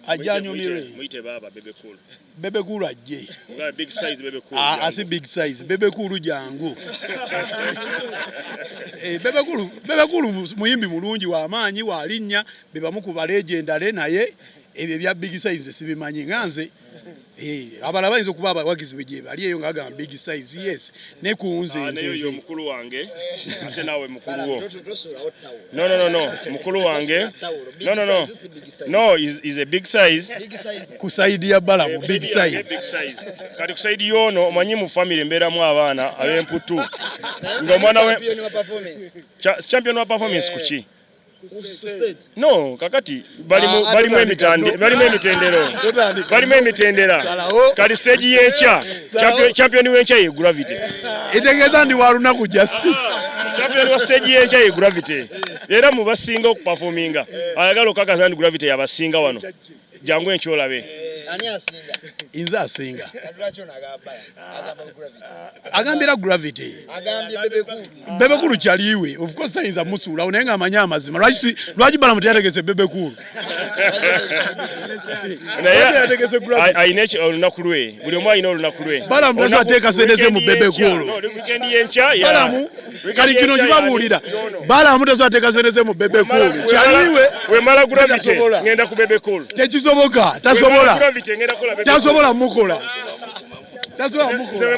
ajanyumire bebe kulu ajje asi big size bebe kulu jangu eh, bebe kulu muyimbi mulungi wamaanyi walinnya bebamu ku balejendale naye ebyo ebya big size sibimanyi nga nze Eh, abalala bayinza okuba abawagizi be gyebali eyo nga agamba big size yes ne ku nze ah, nze mukulu wange ate nawe mukulu wo no no no no mukulu wange no no no no is, is a big size ku side ya bala mu big size kati ku side yono omanyi mu family mbeeramu abaana ab'emputtu ng'omwana we champion wa performance kuki No, kakati balimu ah, balimu emitande balimu emitendero balimu emitendera kali stage y'ekya champion w'enkya ye gravity itegeeza ndi wa lunaku just champion wa stage y'enkya ye gravity era mu basinga okupafominga ayagala okukakasa nti gravity yabasinga wano jangu enkyolabe inze asinga agambira gravity bebekulu kyaliwe ofcourse ayinza musuulawo naye nga amanyi amazima lwaki balamu teyategese bebekulu olunaku lwe buli omu alina olunaku lwe balamu tateeka sente ze mu bebekulu kali kino kibabuulira balamu tesobola teeka sente ze mu bebe cool kyaliwe wemala gravity ngenda ku bebe cool tekisoboka tasobola tasobola mukola tasobola mukola